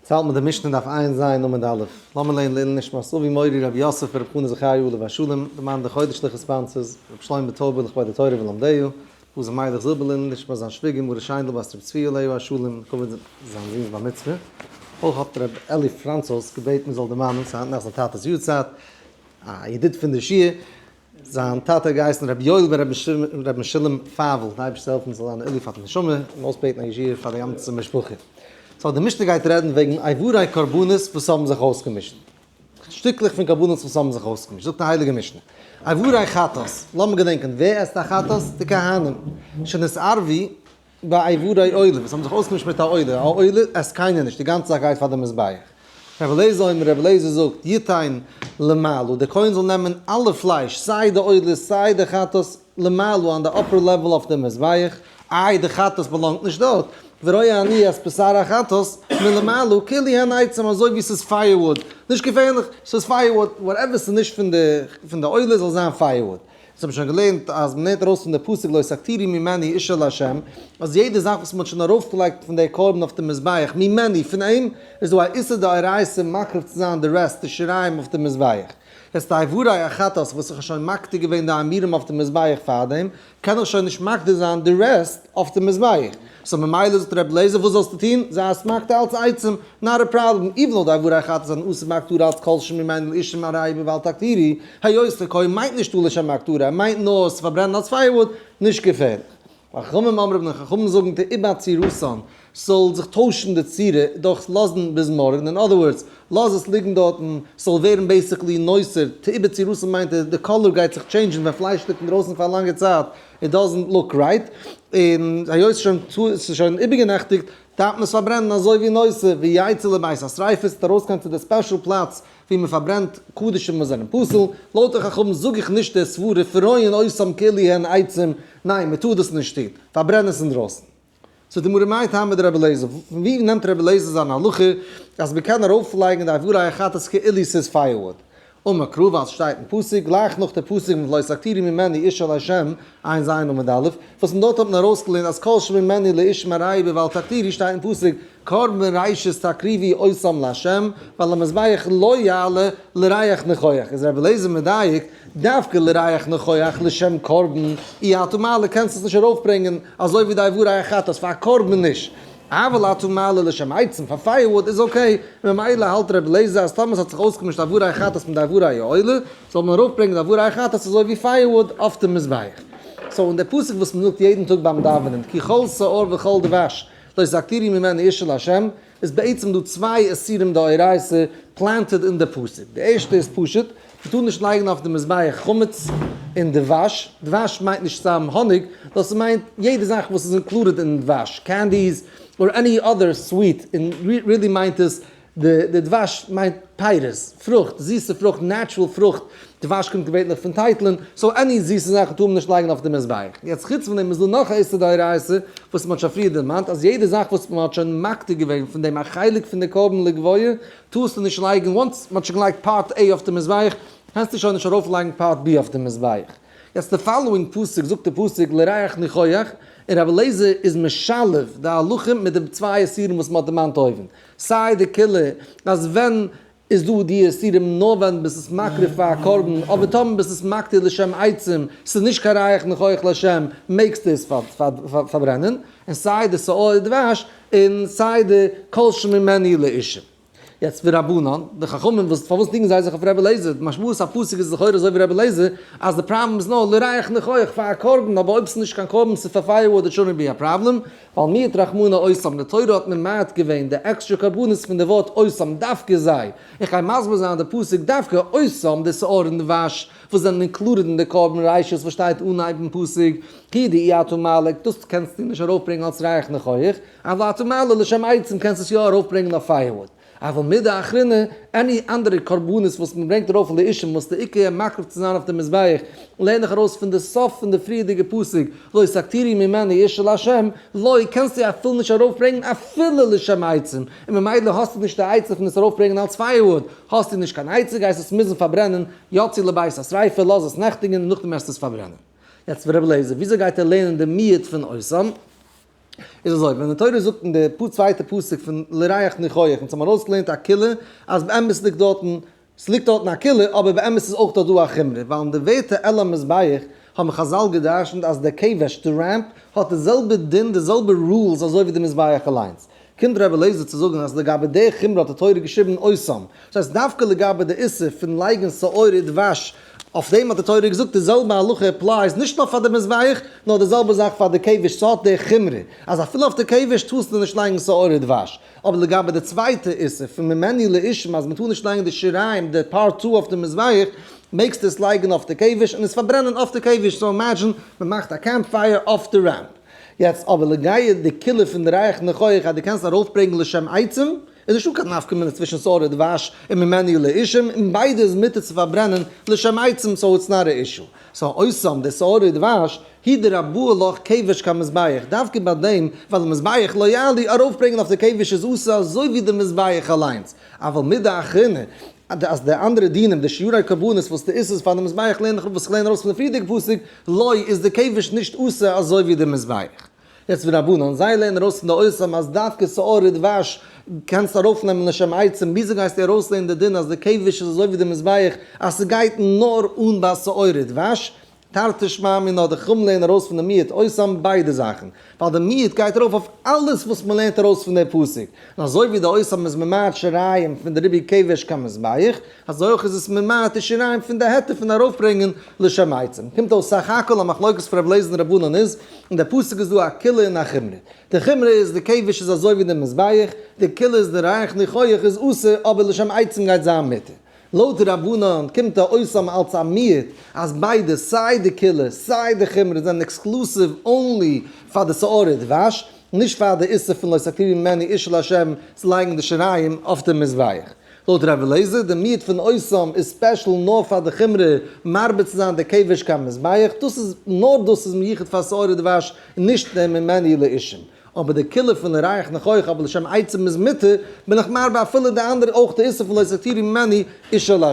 צו האלט מען די משנה דף עיין ז עמוד א'. לאמיר לערנען לעילוי נשמת אבי מורי רבי יוסף רבי חנא זכריה עליו השלום, די מאן דחודש לכ' ספאנסערס, רבי שלמה טויבער לכבוד התורה ולומדיה, בוזי מיילעך זיבעלין, נשמת זיין שוויגער מרת שיינדל בת רבי צבי עליו השלום, לכבוד זיין זונ'ס בר מצוה. אויך האט רבי אלי' פראנצוס געבעטן מען זאל דערמאנען ס'היינט נאך זיין טאטע'ס יארצייט, א ידיד פון די שיעור, זיין טאטע האט געהייסן רבי יואל בן רבי משולם פאוול, די אייבערשטער זאל העלפן זאל זיין א עילוי פאר די נשמה, און אויסבעטן א ישועה פאר די גאנצע משפחה. סאו די משנה גייט רעדן וועגן אייוואריי קרבנות וואס האבן זיך אויסגעמישט. שטיקלעך פון קרבנות וואס האבן זיך אויסגעמישט, זאגט די הייליגע משנה, אייוואריי חטאת, לאמיר געדענקען, ווער עסט א חטאת? די כהנים, שנאת ערבי, ביי עברי עולם וואס האבן זיך אויסגעמישט מיט א עולה, א עולה עסט קיינער נישט, די גאנצע זאך גייט פאר די מזבח. ר' אליעזר אומר, ר' אליעזר זאגט, יתן למעלה, דער כהן זאל נעמען אלע פלייש, סיי די עולות, סיי די חטאת, למעלה, אן די אפער לעוועל אויף די מזבח, איי די חטאת באלאנגט נישט דארט, וראי אני אז בשר החטאת מלמעלה כלי הן עצם, אזוי ווי ס'איז פייערוואד, נישט געפערליך, ס'איז פייערוואד, וואטעווער ס'איז נישט פון די עולה זאל זיין פייערוואד. זיי האבן שוין געלערנט אז מען לערנט ארויס פון די פסוק לא סתירי ממני איש אל ה' אז יעדע זאך וואס מען האט שוין ארויפגעלייגט פון די קרבן אויף די מזבח ממני פון אים איז דא א איסור דאורייתא מקריב צו זיין די רעסט די שיריים אויף די מזבח יעצט די איברי החטאת וואס איך האב שוין מקטיר געווען די עמירם אויף די מזבח פארדעם קען איך שוין נישט מקטיר זיין די רעסט אויף די מזבח. סאו ממילא זאגט רבי אליעזר וואס זאלסטו טון? זיי א סמך ת אלץ עצם, נאט א פראבלעם, איווען אודאי ווארע אחת איז אן אסור מהכתרא אלץ כל שמים אין אישים ארעי בבל תקטירי, היות ת ק מיינט נישטא לשם הכתרא, ער מיינט נאר עס צו פארברענען אלץ פייערוואוד, נישט געפערליך. והחכמים אמרו און די חכמים זאגן תאבד צירותן, ס'זאל זיך טוישן די צורה דורך לאזן ביז מארגן, אין אדער ווארדס, לאז עס ליגן דארטן, ס'זאל ווערן בעיסיקלי נאוסער, תאבד צירותן מיינט אז די קאליר גייט זיך טשעינדזשן ווען פלייש ליגט אינדרויסן פאר א לאנגע צייט, איט דאזענט לוק רייט, און היות שוין ס'איז שוין איבערגענעכטיגט דארף מען עס פארברענען אזוי ווי נושא ווי יצא לבית השריפה ס'וועט ארויסקומען צו די ספעשל פלאץ ווי מען פארברענט קדישים וואס זענען פסול, לויט די חכמים זאג איך נישט די סברה פרויען אויסעם כלי הן עצים ניין מען טאר דאס נישט טון פארברען עס אינדרויסן. ס'איז די מראה מאי טעמא דרבי אליעזר, פון וואו נעמט רבי אליעזר זיין הלכה אז מען קען ארויפלייגן די עבורי החטאת כאילו ס'איז פייערוואד? אמר קרא ווייל ס'שטייט אין פסוק גלייך נאך די פסוק מיט ולא סתירי ממני איש אל ה', עיין ז א עמוד א', וואס פון דארט האט מען ארויסגעלערנט אז כל שממני לאיש מראי בו ואל תתירי שטייט אין פסוק קרבן ראשית תקריבי עושים לה' ועל המזבח לא יעלה לריח ניחוח, איז רבי אליעזר מדייק דווקא לריח נכח לשם קרבן אי אתא מעלה קענסט עס נישט ארויפברענגען אזוי ווי די עבור ריח חטאת פאר א קרבן נישט, אבל אתא מעלה לשם עצם פאר פייערוואד איז אקעי, ממילא האלט רבי אליעזר אז טאמער עס האט זיך אויסגעמישט עבור ריח חטאת מיט די עבור א עולה זאל מען ארויפברענגען די עבור ריח חטאת אזוי ווי פייערוואד אויף דעם מזבח. סאו און די פסוק וואס מען זאגט יעדן טאג ביים דאווענען כי כל שעור וכל דבש לא יסתירי ממני איש אל השם, איז בעצם דא צוויי איסורים דאורייתא פלענטעד אין די פסוק, די ערשטע איז פשוט, מ'טאר נישט לייגן אויף די מזבח חמץ און דבש, דבש מיינט נישט סתם האניג, נאר ס'מיינט יעדע זאך וואס איז אינקלודעד אין דבש, קענדיס, אר עני אדער סוויט, און רילי מיינט עס, די דבש מיינט פירות, פרוכט, זיסע פרוכט, נעטשרעל פרוכט, דבש קומט געווענליך פון טייטלען, סאו עני זיסע זאכן טאר מען נישט לייגן אויף די מזבח. יעצט חוץ פון דעם איז דא נאך א איסור דאורייתא וואס מען האט שוין פריער דערמאנט אז יעדע זאך וואס מען האט שוין מקטיר געווען פון דעם א חלק פון די קרבן לגביה טארסטו נישט לייגן, וואנס מען האט שוין געלייגט פארט עי אויף די מזבח קענסטו שוין נישט ארויף לייגן פארט בי אויף די מזבח. יעצט די פאלאואינג פסוק זאגט די פסוק לריח ניחוח, און רבי אליעזר איז משלב די הלכה מיט די צוויי איסורים וואס מען האט דערמאנט אויבן. סיי די כלה אז ווען איז דא די איסורים נאר ווען ביסט עס מקריב פאר א קרבן אבער טאמער ביסט עס מקטיר לשם עצם ס'איז נישט קיין ריח ניחוח לשם מעגסטו עס פארברענען און סיי די שאור הדבש און סיי די כל שממני לאישה. יעצט ורבנן, די חכמים וואס פארוואס ניגן זיי זיך אויף רבי אליעזר, די משמעות הפסוק איז לכאורה אזוי ווי רבי אליעזר אז די פראבלעם איז נאר לריח ניחוח פאר א קרבן אבער אויב ס'איז נישט קיין קרבן ס'איז פאר פייער וואד איט שונט בי א פראבלעם ווייל מיעוט רחמנא אויסם, די תורה האט ממעט געווען די עקסטרע קרבנות פון די ווארט אויסם דווקא זיי, איך גיי מסביר זיין די פסוק דווקא אויסם די שעור און די וואש וואס זענען אינקלודעד אין די קרבן רשות וואס שטייט אנהייבן פסוק כי די אי אתה מעלה דאס קענסטו נישט ארויפברענגען אלס רייכן חוח, אבל אתה מעלה לשם עצם קענסט עס יא ארויפברענגען אויף פייערוואד. אבל מידי אחרינא, עני אנדערע קרבנות וואס מען ברענגט ארויף לאישים וואס די עיקר איז מקריב צו זיין אויף די מזבח, לערן איך ארויס פון די סוף פון די פריערדיגע פסוק, לא סתירי ממני איש אל השם, לא, קענסטו אפילו נישט ארויפברענגן אפילו לשם עצום, און ממילא האסטו נישט די עצה פון עס ארויפברענגן אלס פייערוואד, האסטו נישט קיין עצה גייסט עס מוזן פארברענען, יצא לבית השריפה, לאז עס נעכטיגן און נאכדעם העסטו עס פארברענען. יעצט ר' אליעזר, וויאזוי גייט ער לערנען די מיעוט פון עושה? איז אזוי, ווען די תורה זאגט אין די צווייטע פסוק פון לריח ניחוח, און אונז האבן ארויסגעלערנט א כולה, אז באמת ליגט דארטן, ס'ליגט דארטן א כולה, אבער באמת איז אויך דארט דא א חומרא, ווייל אין די ווערטער על המזבח האבן חזל גע'דרש'נט אז די קעוועש, די רעמפ, האט די זעלבע דין, די זעלבע רולס אזוי ווי די מזבח אליינס. קומט ר' אליעזר צו זאגן אז לגבי די חומרא האט די תורה געשריבן אויסאם, דאס הייסט דווקא לגבי די איסור פון לייגן שעורה און דבש, אויף דעם האט די תורה געזאגט די זעלבע הלכה אפלייס נישט נאר פאר די מזבח, נאר די זעלבע זאך פאר די קעוועש, ס'האט די חומרא אז אפילו אויף די קעוועש טארסטו נישט לייגן שעורה און דבש, אבער לגבי די צווייטע איסור פון ממני לאישים אז מ'טאר נישט לייגן די שיריים די פר' תו אויף די מזבח, מעגסטו עס לייגן אויף די קעוועש און עס פארברענען אויף די קעוועש, סאו אימעדזשין מ'מאכט א קעמפ פייער אויף די רעמפ. יעצט אבער לגייע די כלי פון רייך נאך אויך אז דו קענסט ארויפברענגן לשם עצם, איז נישטא קיין נפקא מינה צווישן סארא דבש און ממני לאישים, און ביידע איז מותר צו פארברענען לשם עצם סאו איטס נאט א אישו. סאו אויסעם די סארא דבש, הי ד רבוה ל כבש קיין מזבח, דווקא ביי דעם ווייל די מזבח לא יעלי, ארויפברענגן אויף די כבש איז אסור אזוי ווי די מזבח אליינס, אבל מידה אחרונה אז די אנדערע דינים די שיעורי קרבנות וואס די איסור פאר די מזבח לערן איך וואס איך לערן ארויס פון די פריערדיגע פסוק, לוי איז די כבש נישט אסור אזוי ווי די מזבח. יעצט ווי רבנן זיי לערנען ארויס פון די אוסרים אז דווקא שעור ודבש קענסט ארויפנעמען לשם עצם וויאזוי גייסטו ארויסלערנען די דין אז די כבש איז אזוי ווי די מזבח אז ס'גייט נאר אן ביי שעור ודבש? תרתי שמע מינא די חכמים לערנען ארויס פון די מיעוט אוסרים ביידע זאכן ווייל די מיעוט גייט ארויף אויף אלעס וואס מען לערנט ארויס פון דער פסוק, און אזוי ווי די אויסהאב איז ממעט שיריים פון די ריבוי כבש ק מזבח, אזוי אויך איז עס ממעט די שיריים פון די היתר פון ארויפברענגען לשם עצום. קומט אויס סך הכל א מחלוקת פון רב לעזער און רב אונן איז, אין די פסוק איז דא א קולא און א חומרא. די חומרא איז, די כבש איז אזוי ווי די מזבח, די קולא איז, די ריח ניחוח איז אסור, אבער לשם עצום גייט זיין מותר. לויט די רבנן קומט א אויסנאם אלץ א מיעוט אז ביידע סיי די כלה סיי די חומרא זענען עקסקלוסיוו אנלי פאר די שעורי דבש, נישט פאר די איסור פון לא תקריבי ממני איש אל השם צו לייגן די שיריים אויף די מזבח. לויט רבי אליעזר די מיעוט פון אויסנאם איז ספעשל נאר פאר די חומרא מרבה צו זיין די כבש קיין מזבח, דאס איז נאר דאס איז מיוחד פאר שעורי דבש נישט די ממני לאישים. אבער די כלה פון ל רייך נאך אויך אבער לשם עצם איז מותר, בין איך מרבה אפילו די אנדערע אויך די איסור פון לא תתירי ממני אישה לה'.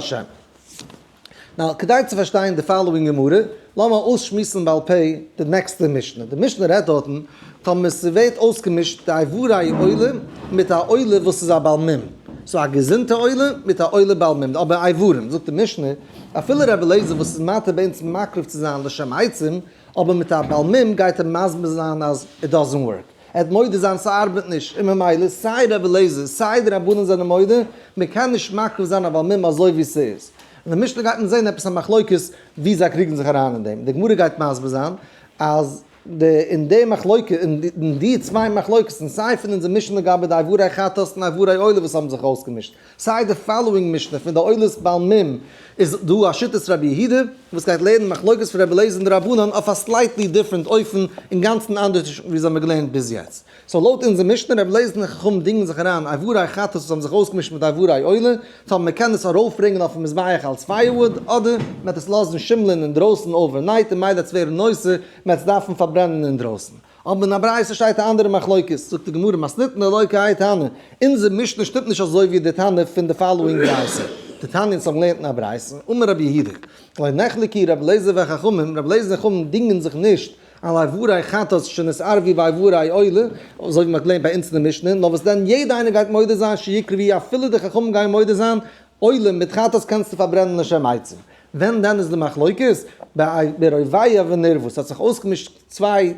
נאו, כדי צו פארשטיין די פאלאווינג גמרא, לאמיר אויסשמועסן בעל פה די נעקסטע משנה. די משנה רעדט דארטן, טאמער ס'ווערט אויסגעמישט די איבריי עולה מיט א עולה וואס איז א בעל מום, סאו א געזונטע עולה מיט א עולה בעל מום, אבער איברים, זאגט די משנה, אפילו רבי אליעזר וואס איז מתיר ביי אונז מקריב צו זיין לשם עצם, אבער מיט א בעל מום גייט ער מסביר זיין אז איט דאזענט ווארק, ער וועט מודה זיין ס'ארבעט נישט, און ממילא סיי רבי אליעזר סיי די רבנים זענען מודה, מען קען נישט מקריב זיין א בעל מום אזוי ווי ס'איז. אין די משנה גייט מען זען עפעס א מחלוקת ווי זיי קריגן זיך אריין אין דעם, די גמרא גייט מסביר זיין אז די אין די מחלוקה אין די צוויי מחלוקת'ן סיי פון אונזער משנה לגבי די עבורי חטאת און עבורי עולה וואס האבן זיך אויסגעמישט, סיי די פאלאווינג משנה פון די עולת בעל מ איז דא א שיטת רבי יהודה וואס גייט לערנען מחלוקת פון רבי אליעזר און די רבנן אויף א סלייטלי דיפרענט אופן אינגאנצן אנדערש ווי אונז האבן געלערנט ביז יעצט. סאו לויט אונזער משנה רבי אליעזר און די חכמים דינגען זיך אריין איבריי חטאת וואס האבן זיך אויסגעמישט מיט די איבריי עולה טאמער מען קען עס ארויפברענגען אויפן מזבח אלץ פייערוואד אדער מען וועט עס לאזן שימלען אינדרויסן אווערנייט און מילא עס ווערן נושא מען וועט עס דארפן פארברענען אינדרויסן. אבער אין א ברייתא שטייט א אנדערע מחלוקת, זאגט די גמרא מסנית נלויקה האי טענא, אונזער משנה שטימט נישט אזוי ווי די טענה פון די פאלאואינג ברייתא, די תניא'ס האבן געלערנט אין א ברייתא, אמר רבי יהודה, לא נחלקי רבי אליעזר והחכמים, רבי אליעזר און חכמים דינגען זיך נישט על איבורי חטאת שנתערב ווי ביי איבורי עולה, אזוי ווי מען האט געלערנט ביי אונז אין די משנה, נאר וואס דען יעדער איינער גייט מודה זיין שיקרי ווי אפילו די חכמים גייען מודה זיין, עולה מיט חטאת קענסטו פארברענען לשם עצום, ווען דען איז די מחלוקת? ביי רוביה ונרבות האט זיך אויסגעמישט. צוויי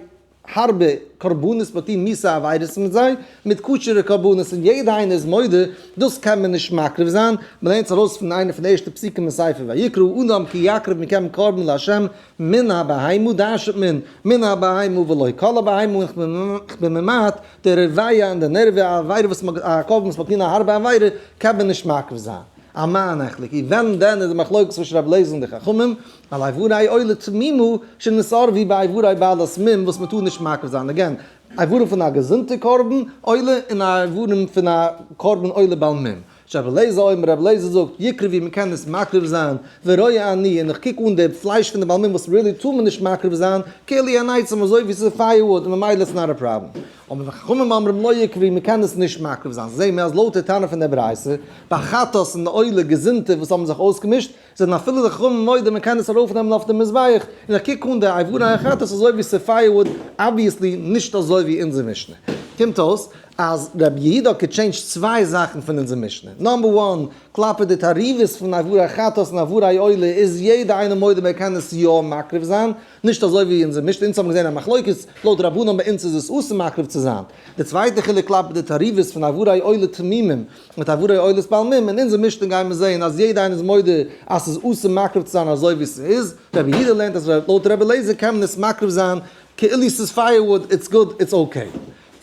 הארבע קרבנות מיט איר מיסע עבירות מיט זיי מיט כשר'ע קרבנות און יעדע איינער איז מודה דאס קען מען נישט מקריב זיין מען לערנט עס ארויס פון איינע פון די ערשטע פסוקים אין ספר ויקרא אדם כי יקריב מכם קרבן לה' מן הבהמה דרש'עט מען מן הבהמה ולא כל הבהמה און איך בין ממעט די רבייה און די נערווע א עבירה וואס מען א קרבן וואס מען האט געטון א הארבע עבירה קען מען נישט מקריב זיין א מה נחלק אי ווען דען איז די מחלוקת צווישן רבי לעזער און די חכמים ווייל איברי עולה תמימה שנאסרה ווי ביי איברי בעלת מום וואס מ'טאר נישט מקריב זיין אגעין איברים פון א געזונטע קרבן עולה און איברים פון א קרבן עולה בעל מום. שרייבט רבי אלעזר אויבן, רבי אלעזר זאגט יקרי ווי מ'קען עס מקריב זיין ורואה אני און איך קוק אן די פלייש פון די בעל מום וואס really טאר מען נישט מקריב זיין כעלי אן עצם אזוי ווי ס'איז פייער וואוד און ממילא איטס נאט א פראבלעם אבער ווען חכמים אומרים לא יקרי מ'קען עס נישט מקריב זיין זעהן מיר אז לויט די טענה פון די ברייתא ביי חטאת און די עולה געזונטע וואס האבן זיך אויסגעמישט זענען אפילו די חכמים מודה מען קען עס ארויף נעמען אויף די מזבח, און איך קוק אן די אייווארע החלטות אזוי ווי ס'איז פייערוואוד, אבוויעסלי נישט אזוי ווי אונזער משנה, קומט אויס אז ר' יהודה האט געטשעינדזשט צוויי זאכן פון אונזער משנה, נאמבער וואן, כלפי די תערובות פון אייווארע החלטות און אייווארע עולה איז יעדע איינער מודה מען קען עס יא מקריב זיין, נישט אזוי ווי אונזער משנה, אונז האבן געזען א מחלוקת, לויט רבנן ביי אונז איז עס אסור מקריב צו זיין, די צווייטע חילוק כלפי די תערובות פון אייווארע עולה תמימים, מיט א ווארי עולת בעל מום, אין אונזער משנה גייען מיר זעהן אז יעדע איינער איז מודה אז ס'איז אסור מקריב צו זיין אזוי ווי ס'איז, ר' יהודה לערנט אז לויט ר' אליעזר קען מען עס מקריב זיין כאילו ס'איז פייער וואוד, איטס גוד, איטס אקעי.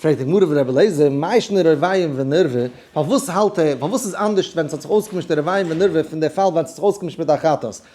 פרעגט די גמרא ווי ר' אליעזר, מה ישנה רבי'ן ונרבה, פארוואס האלט ער, פארוואס איז אנדערשט ווען ס'האט זיך אויסגעמישט די רבי'ן ונרבה פון די פאל ווען ס'האט זיך אויסגעמישט מיט א חטאת,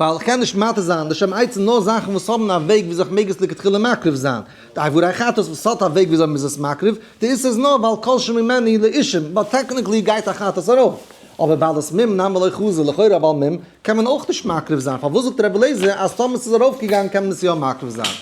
ווייל איך קען נישט מטהר זיין די שם עצום נאר זאכן וואס האבן א וועג וויאזוי איך מעג עס לכתחילה מקריב זיין, די עבורי חטאת וואס האט א וועג וויאזוי מ'איז עס מקריב, די איסור איז נאר ווייל כל שממני לאישים, באט טעקניקלי גייט א חטאת ארויף, אבער ווייל עס מום נמי לא חזי לכאורה ווייל מום קען מען אויך נישט מקריב זיין, פארוואס זאגט רבי אליעזר אז טאמער עס איז ארויף געגאנגען קען מען עס יא מקריב זיין?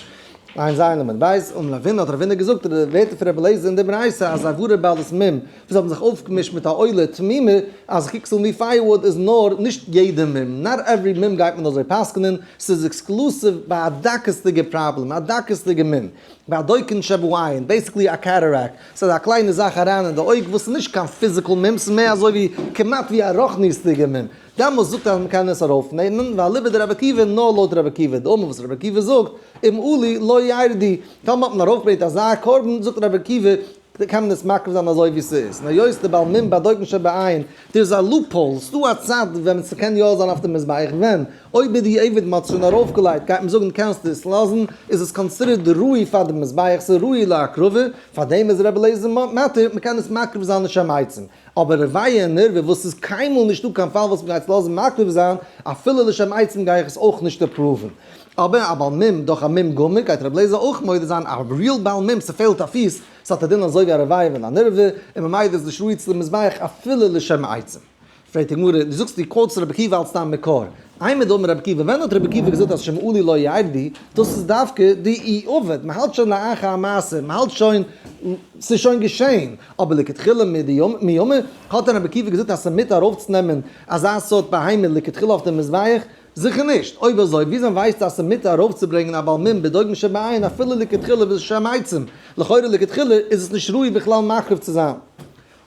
עיין ז ע למד בית, און מלווינא האט רב הונא געזאגט די ווערטער פון רבי אליעזר אין די ברייתא אז עבורי בעלות מום זיי האבן זיך אויפגעמישט מיט א עולה תמימה אז כקסל מפייערוואד איז נאר, נישט יעדע מום, נאט עווערי מום גייט מען אזוי פסק'נען, ס'איז עקסקלוסיוו ביי א דקות'דיגע פראבלעם, א דקות'דיגע מום, ביי א דוקן שבעין, בעיסיקלי א קעטערעקט, ס'איז א קליינע זאך אריין אין די אויג וואס איז נישט קיין פיזיקל מום, ס'איז מער אזוי ווי כמעט ווי א רוחניות'דיגע מום, דאמאלס זאגט אז מ'קען עס ארויפנעמען, ואליבא דרבי עקיבא נאר לויט רבי עקיבא, דאמאלס וואס רבי עקיבא זאגט, אם עלי לא ירדי, טאמער האט מען ארויפגעברענגט אזא קרבן, זאגט רבי עקיבא, די קען מען עס מקריב זיין אזוי ווי ס'איז, און היות די בעל מום באדויט נישט שבעין, דא איז א לופ האול, ס'דא א צד ווען ס'קען יא זיין אויף די מזבח, ווען אויב איז די עבד מ'האט עס שוין ארויפגעלייגט גייט מען זאגן קענסט עס לאזן, איז עס קאנסידערט ראוי פאר די מזבח, ס'איז ראוי להקרבה, פאר דעם איז רבי אליעזר מתיר מ'קען עס מקריב זיין לשם עצם, אבער רביה און ערווה וואס ס'איז קיינמאל נישטא קיין פאל וואס מ'גייט עס לאזן מקריב זיין, אפילו לשם עצם גיי איך עס אויך נישט אפראווען. אבער א בעל מום דורך א מום גמור גייט רבי לעזער אויך מודה זיין א ריעל בעל מום ס'פעלט א פיס ס'האט א דין אזוי ווי א רבי'ן ווען א נרווה און מ'מיידערט נישט ראוי צו די מזבח אפילו לשם העצם. פרעגט די גמרא, דו זאגסט דו קאוטסט רבי עקיבא אלץ דיין מקור, עימא דאמר רבי עקיבא ווען האט רבי עקיבא געזאגט אז שמעולי לא יעבדי, דאס איז דווקא די אי אבד, מ'האלט שוין לאחר המעשה, מ'האלט שוין ס'איז שוין געשעהן, אבער לכתחילה מיומא האט דען רבי עקיבא געזאגט אז ס'מיט ארויפצונעמען אזא סארט בהמה לכתחילה אויף די מזבח? זיכער נישט, אויב אזוי וויאזוי ווייסטו אז ס'איז מותר ארויפצוברענגן א בעל מום בדוגם שבעין אפילו לכתחילה וואס איז שם עצום, לכאורה לכתחילה איז עס נישט ראוי בכלל מקריב צו זיין.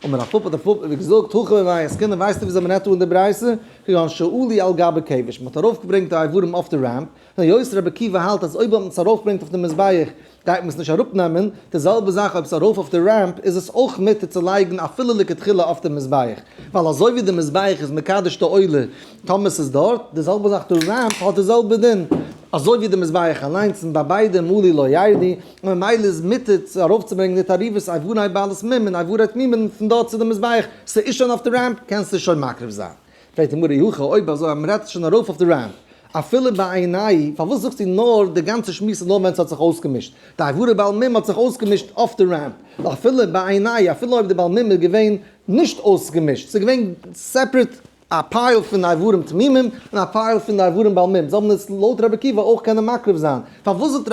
אמר הפפ האט הפפ איבער געזאגט, הכה במאי עסקינן ווייסטו וויאזוי מ'רעדט אן די ברייתא, כגון שעולי על גבי כבש, מ'האט ארויפגברענגט די אברים אויף די רעמפ, היות רבי עקיבא האלט אז אויב האט מען עס ארויפגברענגט אויף די מזבח גייט מען עס נישט אראפ נעמען, די זעלבע זאך אויב עס איז ארויף אויף די רעמפ איז עס אויך מותר צו לייגן אפילו לכתחילה אויף די מזבח, ווייל אזוי ווי די מזבח איז מקדש די עולה טאמער עס איז דארט, די זעלבע זאך די רעמפ האט די זעלבע דין אזוי ווי די מזבח אליינס און ביי ביידע מלי לא יעלי, און ממילא איז מותר צו ארויפצוברענגן די תערובות איברי בעלי סמים און איברי תמימים פון דארט צו די מזבח, ס'איז שוין אויף די רעמפ קענסטו עס שוין מקריב זיין. פרעגט אים אורי הכה, אויב אזוי אז מ'רעדט שוין ארויף אויף די רב, אפילו בעיניי, פארוואס זאגסטו נאר די גאנצע שמועס איז נאר ווען ס'האט זיך אויסגעמישט? די עבורי בעל מום האט זיך אויסגעמישט אויף די רב, ווייל אפילו בעיניי, אפילו אויב די בעל מום איז געווען נישט אויסגעמישט, ס'איז געווען סעפרעט א פייל פון די עבורים תמימים און א פייל פון די עבורים בעל מום, זאל מען עס לויט רבי עקיבא אויך קענען מקרב זיין, פארוואס זאגט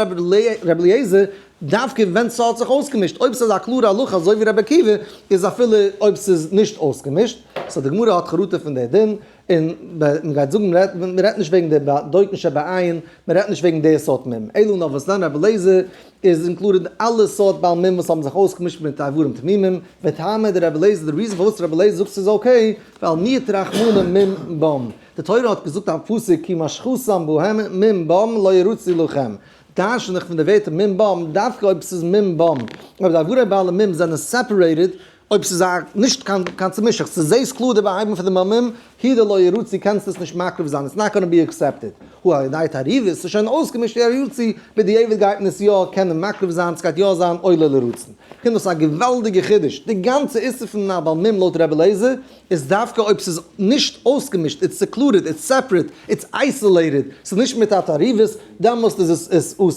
רבי אליעזר דווקא ווען ס'האט זיך אויסגעמישט, אויב ס'איז א קלארע הלכה אזוי ווי רבי עקיבא, איז אפילו אויב ס'איז נישט אויסגעמישט, סאו די גמרא האט חרטה פון די דין, און מען גייט זאגן מען רעדט נישט וועגן די דויטן שבעין, מען רעדט נישט וועגן די סארט מים, אלא נאר וואס לענ רבי אליעזר איז אינקלודעד אלע סארט בעל מים וואס האבן זיך אויסגעמישט מיט איברים תמימים, והטעמא דרבי אליעזר די ריזען פארוואס רבי אליעזר זאגט ס'איז אקעי, ווייל מיעוט רחמנים מים בם, די תורה האט געזאגט א פסוק כי משכו שם בהם מים בם לא ירוצו לכם, טייטשן זיך פון די ווערטער מ ב מ דווקא אויב ס'איז מ ב מ, אויב די אגודה בעלי מ ב זענען סעפערעיטעד, אויב ס'איז א נישט קיין קיין צומישעכץ, צו זעהסט קלאר די באהייבונג פון די מ מ, הי ד לא ירא צו קענסט עס נישט מקרב זיין, איטס נאט גאנא בי עקסעפטעד, הוא על ידי תערובות, ס'איז שוין אויסגעמישט אי ה יו ר צו בדיעבד גייט מען עס יא קענען מקרב זיין, ס'גייט יא זיין עולה לרצון. כ'פין דאס א געוואלדיגע חידוש, די גאנצע איסור פון א בעל מ ב לויט ר' אליעזר, איז דווקא אויב ס'איז נישט אויסגעמישט, איטס סעקלודעד, איטס סעפערעט, איטס אייסאלעיטעד, ס'איז נישט מיט א תערובת, דעמאלסט איז עס אסור.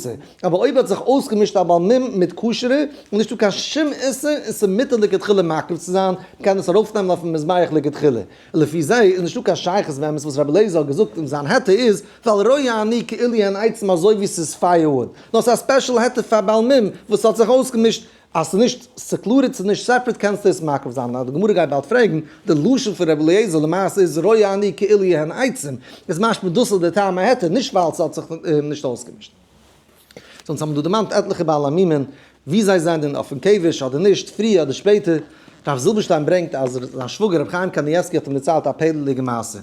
אבער אויב האט זיך אויסגעמישט א בעל מום מיט כשר'ע, איז נישטא קיין שום איסור און ס'איז מותר לכתחילה מקריב צו זיין, מ'קען עס ארויפנעמען אויפן מזבח לכתחילה. לפי זה איז נישטא קיין שייכות וועמענס וואס רבי אליעזר האט געזאגט און זיין היתר איז, ווייל ראה אני כאילו אין עצם אזוי ווי ס'איז פייער וואוד, נאר ס'איז א ספעשל היתר פאר בעל מום וואס האט זיך אויסגעמישט, אז ס'איז נישט סעקלורעד ס'איז נישט סעפערעט קענסטו עס מעכב זיין אז די גמרא גייט באלד פרעגן, די לשון פון ר' אליעזר למעשה איז רואה אני כאילו יהיין עצים, איז משמע דאס איז די טעם ההיתר נישט ווייל ס'האט זיך נישט אויסגעמישט. ז אונז האבן דא דערמאנט עטליכע בעל עמימען ווי זיי זענען אויפן קעוועש אדער נישט פריער אדער שפעטער, רב זילבערשטיין ברענגט אז זיין שוואגער ר' חיים קאניעווסקי האט אים דערציילט א פעלערדיגע מעשה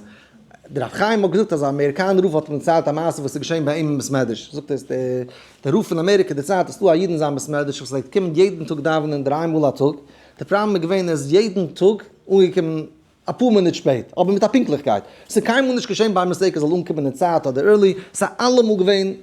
דער רב חיים האט געזאגט אז א אמעריקאנער רב האט אים דערציילט א מעשה וואס איז געשען ביי אים אין בית מדרש, זאגט ער אז דער רב פון אמעריקע דערציילט אז ס'איז דא א איד אין זיין בית מדרש וואס פלעגט קומען יעדן טאג דאווענען דריי מאל א טאג, דער פראבלעם איז געווען ער איז יעדן טאג אנגעקומען אפאר מינוט שפעט, אבער מיט א פונקטליכקייט, ס'איז קיינמאל נישט געשען ביי אים אז ער זאל אנקומען אין צייט אדער ערלי, ס'איז אלעמאל געווען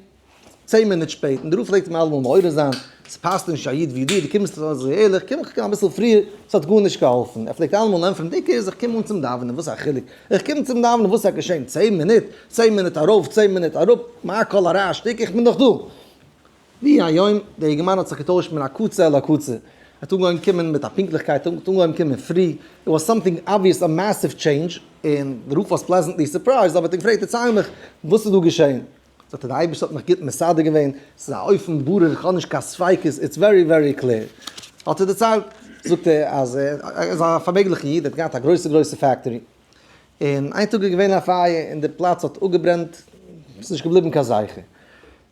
צען מינוט שפעט, און דערויף פלעגט ער מיר אלעמאל מעורר זיין, ס'פאסט נישט צו א איד ווי דיר, דו קומסט אזוי זויערליך, קום איך קום אביסל פריער, ס'האט גארנישט געהאלפן, ער פלעגט אלעמאל ענטפערן, די קערסט איך קום אן צום דאווענען, וואס א חילוק, איך קום צום דאווענען וואס וועט געשען, צען מינוט, צען מינוט ארויף, צען מינוט אראפ, מה כל הרעש, שטיק, איך בין דאך דא. ווי היום, דער אינגערמאן האט זיך געטוישט מן הקצה אל הקצה, ער האט אנגעהויבן קומען מיט א פונקטליכקייט, ער האט אנגעהויבן קומען פרי, איט וואס סאמטינג אבוויעס א מעסיוו טשעינדזש, און דערויף וואס פלעזענטלי סורפרייזד, האב איך אים געפרעגט, דערצייל מיך, וואס איז דא געשען? זאגט ער די אייבערשטער האט מיך גוט מסדר געווען, ס'איז א אויפן ברור איך האב נישט קיין ספיקות, איטס ווערי ווערי קלעיר, האט ער דערציילט, זאגט ער אז ער איז א פארמעגליכע איד, ער האט געהאט א גרויסע גרויסע פעקטארי, און איין טאג איז געווען א פייער און די פלאץ האט אפגעברענט, ס'איז נישט געבליבן קיין זכר,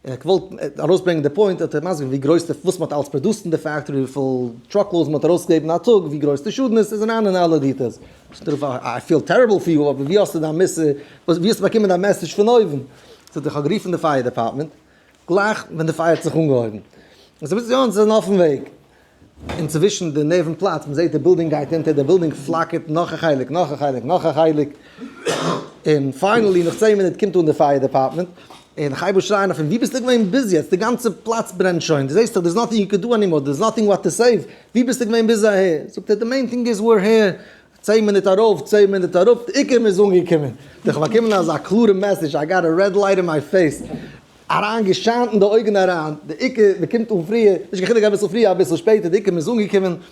און איך וואלט ארויסברענגען די פוינט, האט ער מסביר געווען ווי גרויס די וואס מ'האט אלץ פראדוסט אין די פעקטארי, וויפיל טראקלאודס מ'האט ארויסגעגעבן א טאג, ווי גרויס די שאדן איז, ס'איז אריין אין אלע דיטעילס, איי פיל טעריבל פאר יו, אבער ווי האסטו דיין מוסר, וואס, ווי האסטו באקומען דיין מעסעדזש פון אויבן? זאגט ער, איך האב גערופן די פייער דעפארטמענט, גלייך ווען די פייער האט זיך אנגעהויבן, און זיי וויזן יא אונז זענען אויפן וועג, אינצווישן די נערווען פלאצט, מען זעט די בילדינג גייט אונטער, די בילדינג פלאקערט, נאך א חלק, נאך א חלק, נאך א חלק, און פיינעלי נאך צען מינוט קומט אן די פייער דעפארטמענט, און איך הייב אן שרייען אויף אים, וואו ביסטו געווען ביז יעצט? די גאנצע פלאץ ברענט שוין, דו זעסט דאך דער איז נאטינג יו קען דא ענימאר, דער איז נאטינג וואט טו סעיוו, וואו ביסטו געווען ביז אהער? זאגט ער, די מעין טינג איז וויר העיר, צען מינוט ארויף, צען מינוט אראפ, די עיקר מ'איז אנגעקומען. דיך באקומען אזא קלארע מעסעדזש, איי גאט א רעד לייט אין מיי פעיס, אריין געשיינט אין די אויגן אריין, די עיקר מ'קומט אן פריער, נישט קיין חילוק אביסל פריער אביסל שפעטער, די עיקר מ'איז אנגעקומען,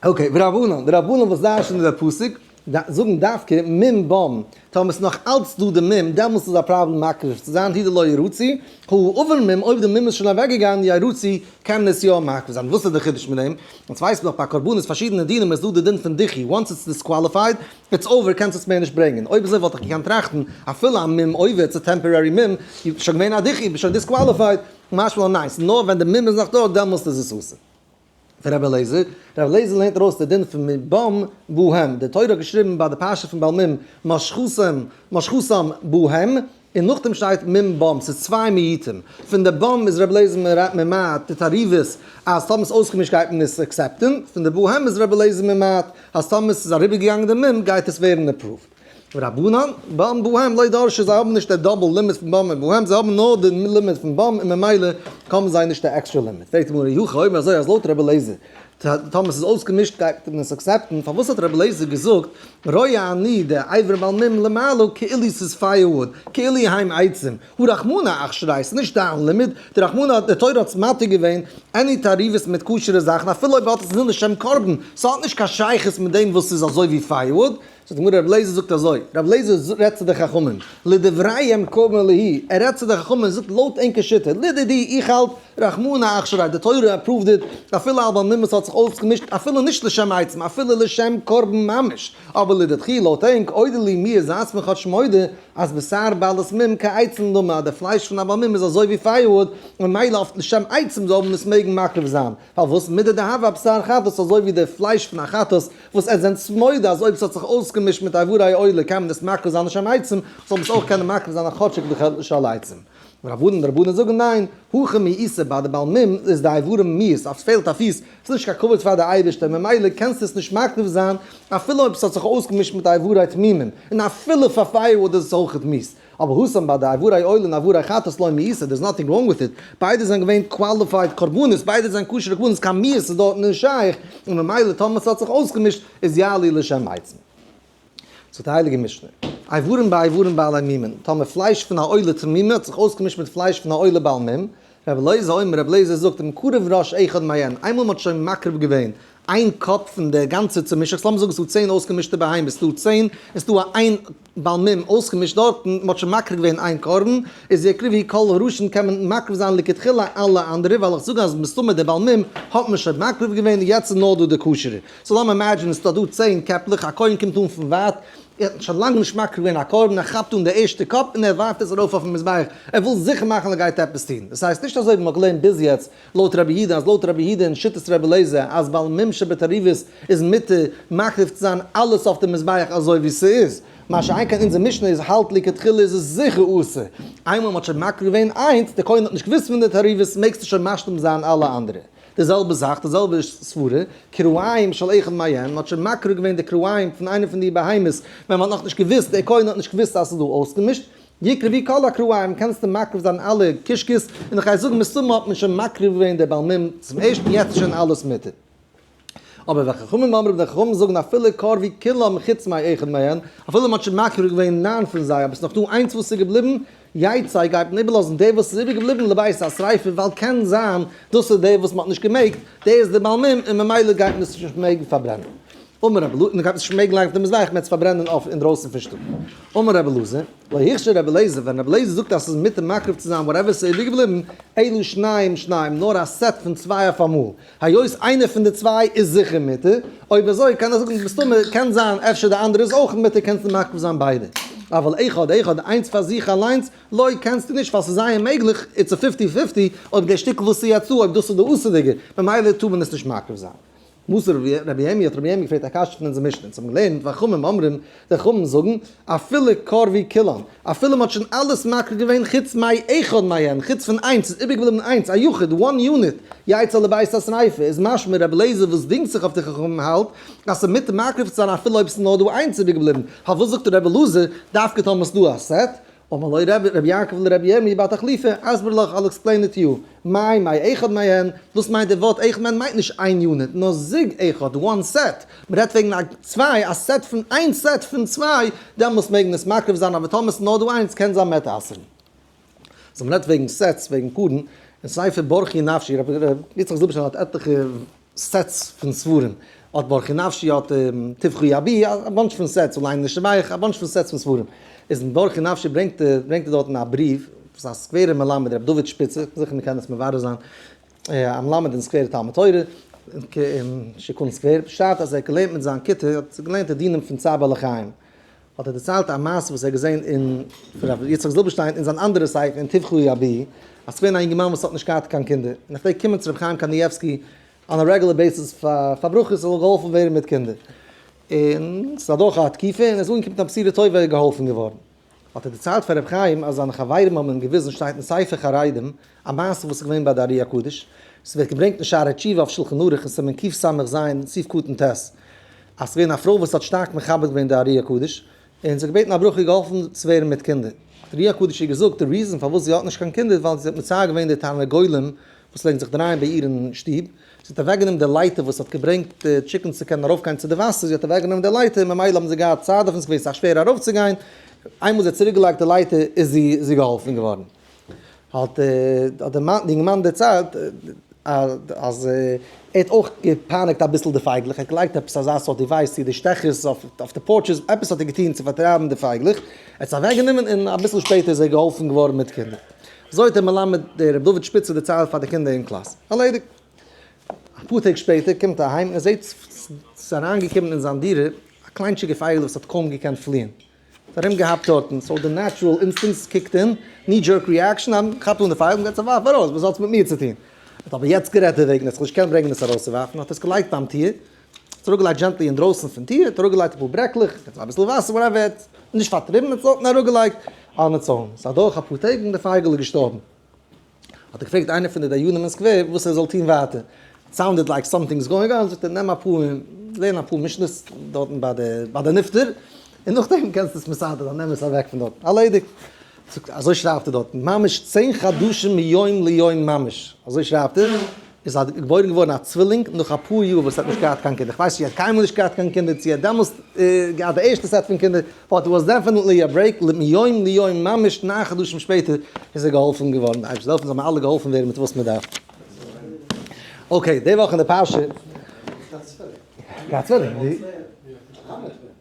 אקעי, ורבנן, די רבנן וואס דרש'ענען די פסוק, זאגן דווקא מ מ במ, טאמער ס'איז נאך אלץ דא די מ מ, דעמאלס איז א פראבלעם מקריב צו זיין, הי ד לא ירוצי, הו ה אבער מ מ, אויב די מ מ איז שוין אוועקגעגאנגען ירוצי, קען עס יא מקריב זיין, וואס איז די חידוש מיט דעם? אונז ווייסן דאך ביי קרבנות פארשידענע דינים איז דא די דין פון דיחי, וואנס איטס דיסקוואליפייד, איטס אווער, קענסט עס מער נישט ברענגען, אויב אזוי וואלט איך געקענט טראכטן, אפילו א מ מ אויב איטס א טעמפארערי מ מ, איז שוין געווען א דיחי, ביסט שוין דיסקוואליפייד, משמע לן ניין, ס'איז נאר ווען די מ מ איז נאך דא, דעמאלס איז עס אסור. פון רבי אליעזר, רבי אליעזר לערנט ארויס די דין פון מבם בא הם, די תורה האט געשריבן ביי די פרשה פון בעל מום משחותם משחותם בא הם, און נאכדעם שטייט מום בם, ס'איז צוויי מיעוטים, פון די בם איז רבי אליעזר ממעט די תערובות אז טאמער ס'איז אויסגעמישט גייט מען עס עקסעפטען, פון די בא הם איז רבי אליעזר ממעט אז טאמער ס'איז אריבערגעגאנגען די מום גייט עס ווערן עפראווד. רבנן, במ בהמ לא דרשו זיי האבן נישט די דאבל לימיט פון במ און בהמ זיי האבן נאר די לימיט פון במ און ממילא קאווען זיי נישט די עקסטרע לימיט, פרעגט די גמרא היו הכי אומר אזוי אז לויט רבי אליעזר טאמער ס'איז אויסגעמישט גייט מען עס אקסעפטן פארוואס האט רבי אליעזר געזאגט ראה אני די אברים על מ למעלה כאילו ס'איז פייער וואוד כאילו היים עצים הוא רחמנא אך שריי ס'איז נישט דיין לימיט די רחמנא די תורה האט מתיר געווען עני תערובות מיט כשר'ע זאכן אפילו אויב מ'האט עס נישט לשם קרבן ס'האט נישט קיין שייכות מיט דעם וואס ס'איז אזוי ווי פייער וואוד זאגט די גמרא רבי אליעזר זאגט אזוי, רבי אליעזר רעדט צו די חכמים, לדבריהם קובעין להי', ער רעדט צו די חכמים און זאגט לויט ענקער שיטה, לדידי איך האלט, רחמנא אכשרי, די תורה אפראווד איט, אפילו אלבא מימות האט זיך אויסגעמישט, אפילו נישט לשם עצם, אפילו לשם קרבן ממש, אבער לדידכי לויט ענק, אודה לי מיר זייטס מיר כאטש מודה אז בשר בעלת מום כעצם למה, די פלייש פון א בעל מום איז אזוי ווי פייערוואד, ממילא אויף לשם עצם זאל מען עס מעגן מקריב זיין. פארוואס מידי דהוה א בשר חטאת אזוי ווי די פלייש פון א חטאת וואס עטס זענטס מודה אז אויב ס'האט זיך אויסגעמישט מיט איברי עולה קען מען עס מקריב זיין לשם עצום זאל מען עס אויך קענען מקריב זיין א חאטשיק וכד' לשל עצום. רב אהרן און רבנן זאגן ניין, הכי מאיסר ביי די בעל מום איז די איברים מיאוס אז ס'פעלט א פיס ס'איז נישט קיין כבוד פאר די אייבערשטער ממילא קענסטו עס נישט מקריב זיין אפילו אויב ס'האט זיך אויסגעמישט מיט די איברי תמימים און אפילו פאר פייער וואד איז עס אויכעט מיאוס אבער הושם ביי די עברי עול און עברי חטאת לא מאיסר, דער איז נאטינג ראנג וויט איט, ביידע זענען געווען קוואליפייד קרבנות, ביידע זענען כשר'ע קרבנות, קיין מיאוס איז דארט נישט שייך, און ממילא טאמער ס'האט זיך אויסגעמישט איז יעלי לשם עצמו. זאגט די הייליגע משנה, איברים באיברים בעלי מימון, טאמער פלייש פון א עולה תמימה האט זיך אויסגעמישט מיט פלייש פון א עולה בעל מום, רבי אלעזר אומר, רבי אלעזר זאגט, מקריב ראש אחד מעין, איינמאל מען האט שוין מקריב געווען איין קאפ פון די גאנצע צומישעכץ, לאמיר זאגן עס איז דא צען אויסגעמישטע בהמות, עס איז דא צען, עס איז דא א איין בעל מום אויסגעמישט דארטן, מען האט שוין מקריב געווען איין קרבן, איז די עקריבי כל הראשון קען מען מקריב זיין לכתחילה אלע אנדערע, ווייל איך זאג אז מסתמא די בעל מום האט מען שוין מקריב געווען און יעצט איז נאר דא די כשר'ע. סאו לאמיר אימעדזשען עס איז דא דא צען קעפלעך, א כהן קומט אן פון ווייט, ער האט שוין לאנג נישט מקריב געווען א קרבן, ער כאפט אן די ערשטע קאפ און ער ווארפט עס ארויף אויפן מזבח, ער וויל זיכער מאכן אז ער גייט עפעס טון, דאס הייסט נישט אזוי ווי מען האט געלערנט ביז יעצט לויט רבי יהודה, אז לויט רבי יהודה און שיטת רבי אליעזר אז בעל מום שבתערובות איז מותר מקריב צו זיין אלעס אויף די מזבח אזוי ווי ס'איז, מה שאין כן אונזער משנה איז האלט לכתחילה איז עס זיכער אסור, איינמאל מען האט שוין מקריב געווען איינס, דער כהן האט נישט געוואוסט פון די תערובות, מעגסטו שוין משלים זיין אלע אנדערע. די זעלבע זאך, די זעלבע סברה, כרעיים של אחד מעין, מען האט שוין מקריב געווען די כרעיים פון איינע פון די בהמות ווען מען האט נאך נישט געוואוסט, דער כהן האט נישט געוואוסט אז ס'איז דא אויסגעמישט, יקרא ווי כל הכרעיים קענסטו מקריב זיין אלע קישקעס, און איך גיי זאגן מסתמא האט מען שוין מקריב געווען די בעלמים צום ערשטן יעצט איז שוין אלעס מותר. אבער ווען חכמים אמרו ווען חכמים זאגן אפילו קר ווי כולם חוץ מאי אחד מעין, אפילו מען האט שוין מקריב געווען נײַן פון זיי אבער ס'איז נאך דא איינס וואס איז געבליבן, יצא גייט מען איבערלאזן די וואס איז איבער געבליבן לבית השריפה ווייל קען זיין דאס איז די וואס מען האט נישט געמעגט די איז די בעל מום און ממילא גייט מען עס נישט מעגן פארברענען אמר רבי אלעזר מען גייט עס נישט מעגן לייגן אויף די מזבח מען וועט עס פארברענען אויף אינדרויסן פון שטוב אמר רבי אלעזר לא הכשר רבי אלעזר ווען רבי אלעזר זאגט אז עס איז מותר מקריב צו זיין וואטעווער עס איז איבער געבליבן אלו שניים שניים נאר א סעט פון צוויי אויף אמאל היות איינער פון די צוויי איז זיכער מותר, אויב אזוי קען ער זאגן מסתמא קען זיין אפשר די אנדערע איז אויך מותר קענסטו מעכב זיין ביידע, אבל אחד אחד איינס פאר זיך אליינס לא קענסטו נישט ווייל ס'איז זייער מעגליך איטס א פיפטי פיפטי אויב דער שטיקל וואס ס'איז יצא אויב דאס איז די אסור'דיגע ממילא טאר מען עס נישט מעכב זיין. מוסר רבי יעמי האט רבי יעמי געפרעגט א קשיא פון אונזער משנה אונז האבן געלערנט ואכמ ם אומרים די חכמים זאגן, אפילו קרבי כלם, אפילו מ'האט שוין אלעס מקריב געווען חוץ מאי אחד מהן, חוץ פון איינס, ס'איז איבערגעבליבן איינס, א יחיד, one unit, יצא לבית השריפה, איז משמע רבי אליעזר וואס דינגט זיך אויף די חכמים האלט אז ס'איז מותר מקריב צו זיין אפילו אויב ס'איז נאר דא איינס איבערגעבליבן, פארוואס זאגט רבי אלעזר דווקא טאמער ס'איז דא א סעט, אמר לו ר' יעקב לר' ירמי' בר תחליפא, אסביר לך, I'll explain it to you, מאי מאי אחד מעיין, וואס מיינט די ווארט אחד מעיין, מיינט נישט איין יוניט, נאר זוג אחד, one set, מען רעדט וועגן א צוויי, א סעט פון איין סעט פון צוויי, דעמאלס מעג מען עס מקריב זיין, אבער טאמער ס'נאר דא איינס קען זיין מעט אסר'ן. סאו מען רעדט וועגן סעטס, וועגן פארן, אין ספר ברכי נפשי, רבי יצחק זילבערשטיין האט עטליכע סעטס פון ספרים, אט ברכי נפשי, אט טבחו ידי, א באנטש פון סעטס, אולי נשבעך, א באנטש פון סעטס פון ספרים. איז אין ברכי נפשי ברענגט ער, ברענגט ער דארטן א בריוו וואס א סקווערער מלמד רבי דוד שפיצער, זיכער מ'קען עס מברר זיין, א מלמד אין סקווערע תלמוד תורה, אין שיכון סקווער, שרייבט אז ער האט געלערנט מיט זיין כיתה, ער האט געלערנט די דינים פון צער בעלי חיים. האט ער דערציילט א מעשה וואס ער האט געזען אין פון רבי יצחק זילבערשטיין אין זיין אנדערע ספר אין טבחו יביא, אז ס'געווען א יונגערמאן וואס האט נישט געהאט קיין קינדער, און ער פלעגט קומען צו רבי חיים קנייבסקי אן א רעגולער בעיסיס פאר ברכות ס'זאל געהאלפן ווערן מיט קינדער, און ס'איז אדורך א תקופה און ער איז אנגעקומען צו א בשירה טובה ער איז געהאלפן געווארן, האט ער דערציילט פאר רבי חיים אז זיינע חברים האבן אים געוויזן שטייט אין ספר חרדים א מעשה וואס איז געווען ביי די ארי הקדוש, ס'ווערט געברענגט אין שערי תשובה אויף שלחן ערוך אין סימן קס ז, סעיף קטן ט', אז ס'געווען א פרוי וואס האט שטארק מכבד געווען די ארי הקדוש, און זי האט געבעטן א ברכה איר געהאלפן צו ווערן מיט קינדער, האט ארי הקדוש איר געזאגט די ריזען פארוואס זי האט נישט קיין קינדער איז ווייל זי האט מצער געווען די תרנגולים וואס פלעגן זיך דרייען ביי איר אין שטוב, זי האט אוועק גענומען די לייטער וואס האט געברענגט די טשיקענס צו קענען ארויף גיין צו די וואסער, זי האט אוועק גענומען די לייטער און ממילא האבן זיי געהאט צייט דארט און ס'איז געווען סאך שווער ארויף צו גיין, איינמאל זי האט צוריק געלייגט די לייטער איז זי געהאלפן געווארן. האט די אינגערמאן דערציילט אז ער האט אויך געפייניגט אביסל די פייגלעך, ער האט געלייגט עפעס אזא סארט דיווייס צו די שטעכערס אויף די פארטשעס, עפעס האט ער געטון צו פארטרייבן די פייגלעך, ער האט עס אוועקגענומען און אביסל שפעטער איז ער געהאלפן געווארן מיט קינדער. אזוי האט דער מלמד די ר' דוד שפיצער דערציילט פאר די קינדער אין קלאס. ארלעדיגט. אפאר טעג שפעטער קומט ער אהיים און ער זעהט ס'איז אריינגעקומען אין זיין דירה א קליינטשיגע פייגל וואס האט קוים געקענט פליען. ארום געהאפט דארטן, סאו די נעטשורעל אינסטינקטס קיקט אין, ני דזשערק ריעקשאן, א מען כאפט אן די פייל און גייט עס ווארפן ארויס, וואס האטס מיט מיר צו טון? ער האט אבער יעצט גערעדט דערוועגן ער האט זיך נישט געקענט ברענגן עס ארויסצואווארפן, האט עס געלייגט ביים טיר, עס אראפגעלייגט דזשענטלי אינדרויסן פון טיר, האט אראפגעלייגט אפאר ברעקלעך, געטאן אביסל וואסער, וואטעווער, ער האט נישט פארטריבן, ער האט עס דארטן אראפגעלייגט אן עטס און סאיז אדורך אפאר טעג און די פייגל איז געשטארבן. האט ער געפרעגט איינער פון די דיינים אין סקווער וואס ער זאל טון ווייטער, איט סאונדעד לייק סאמטינג איז גאוינג אן, זאגט ער נעם אפאר און לערן אפאר משניות דארטן ביי די נפטר, און נאכדעם קענסטו עס מסדר זיין, נעם עס אוועק פון דארטן, ארלעדיגט. זאגט ער אזוי שרייבט ער דארטן ממש צען חדשים מיום ליום ממש, אזוי שרייבט ער, עס איז געבוירן געווארן א צווילינג נאך אפאר יאר וואס ער האט נישט געהאט קיין קינדער, איך ווייס נישט צו ער האט קיינמאל נישט געהאט קיין קינדער צו ער האט דעמאלסט געהאט די ערשטע סעט פון קינדער, באט ער וואס דעפענעטלי א ברעיק מיום ליום ממש נײַן חדשים שפעטער איז ער געהאלפן געווארן, די אייבערשטער זאל העלפן זאל מיר אלע געהאלפן ווערן מיט וואס מען דארף. אקעי, די וואך אין די פרשה.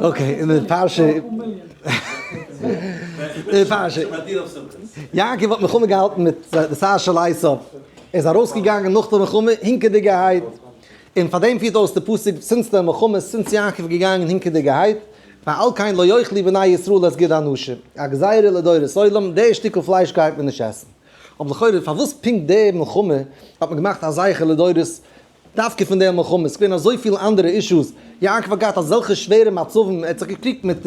אקעי, אין די פרשה, די פרשה, יעקב האט מלחמה געהאלטן מיט די שר של עשיו, ער איז ארויסגעגאנגען נאך די מלחמה הונקעדיגערהייט, און פאר דעם פירט אויס די פסוק זינט די מלחמה, זינט יעקב איז געגאנגען הונקעדיגערהייט, ועל כן לא יאכלו בני ישראל את גד האנשים, א גזירה לדורות עולם, די שטיקל פלייש גייט מען נישט עסן. אבער לכאורה פארוואס פונקט די מלחמה האט מען געמאכט א זכר לדורות דווקא פון די מלחמה, ס'געווען אזויפיל אנדערע אישוס, יעקב האט געהאט אזעלכע שווערע מצבים, ער האט זיך געקריגט מיט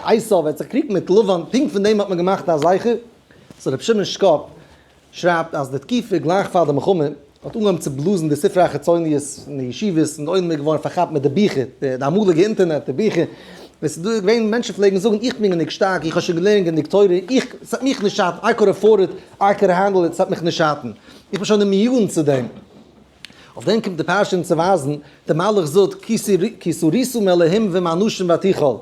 עשו, ער האט זיך געקריגט מיט לבן, פונקט פון דעם האט מען געמאכט א זכר, סאו רבי שמעון שקאפ שרייבט אז די תקופה גלייך פאר די מלחמה האט אנגעהויבן צו בלאזן די ספרי החיצוניות אין די ישיבות, און די עולם איז געווארן פארכאפט מיט די ביכער, די אמאליגע אינטערנעט, די ביכער, ווען ס'איז דא געווען מענטשן פלעגן זאגן איך בין גענוג שטארק, איך האב שוין געלערנט גענוג תורה, איך, ס'וועט מיך נישט שאטן, איי קאד עפארד איט, איי קען הענדל איט, ס'וועט מיך נישט שאטן, איך בין שוין אימיון צו דעם. אויף דעם קומט די פרשה אונז צו ווייזן, דער מלאך זאגט, כי סריסו מאלהים ומאנשים ותיכל,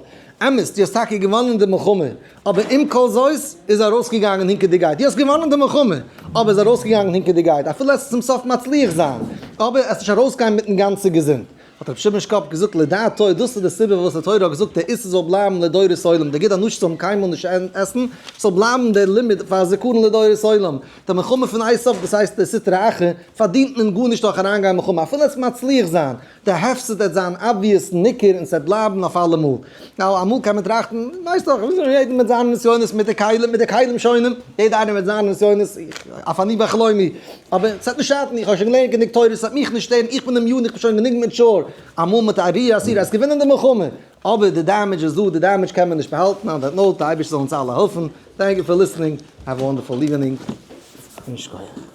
אמת, דו האסט טאקע געוואנען די מלחמה, אבער עם כל זאת איז ארויסגעגאנגען הינקעדיגייט, דו האסט געוואנען די מלחמה, אבער איז ארויסגעגאנגען הינקעדיגייט, אפילו עסט צום סוף מצליח זיין, אבער עסט נישט ארויסגיין מיטן גאנצע געזונט, האט רבי שמעון שקאפ געזאגט לדעתו דאס איז די סיבה פארוואס די תורה האט געזאגט דער איסור זאל בלייבן לדורות עולם דער גיט א נאש צו האבן קיינמאל נישט עסן ס'זאל בלייבן דער לימוד פאר זיכרון לדורות עולם די מלחמה פון איי סוף דאס הייסט די סטרא אחרא פארדינט מען גארנישט דורך אריינגיין אין מלחמה אפילו עס מצליח זיין דער הפסד עט זיין אבוויעס ניכר און סעט בלייבן אויף אלעמאל. נאו, אמאל קען מען טראכטן, ווייסט דאך, יעדער מיט זיינע נסיונות מיט די כלים, מיט די כלים שונים, יעדער איינער מיט זיינע נסיונות, אויף אני ואכלומי, אבער ס'וועט נישט שאטן, איך האב שוין געלערנט גענוג תורה, ס'וועט מיך נישט שטערן, איך בין דעם יארן, איך בין שוין גענוג מעטשור, אמאל מיט א רי עסיר, וועסט געווינען די מלחמה, אבער די דעמעדזש איז דא, די דעמעדזש קען מען נישט באהאלטן, מען וועט נאר, די אייבערשטער זאל אונז אלע העלפן, טענק יו פאר ליסענינג, העוו א וואנדערפול איווענינג, און שכוח.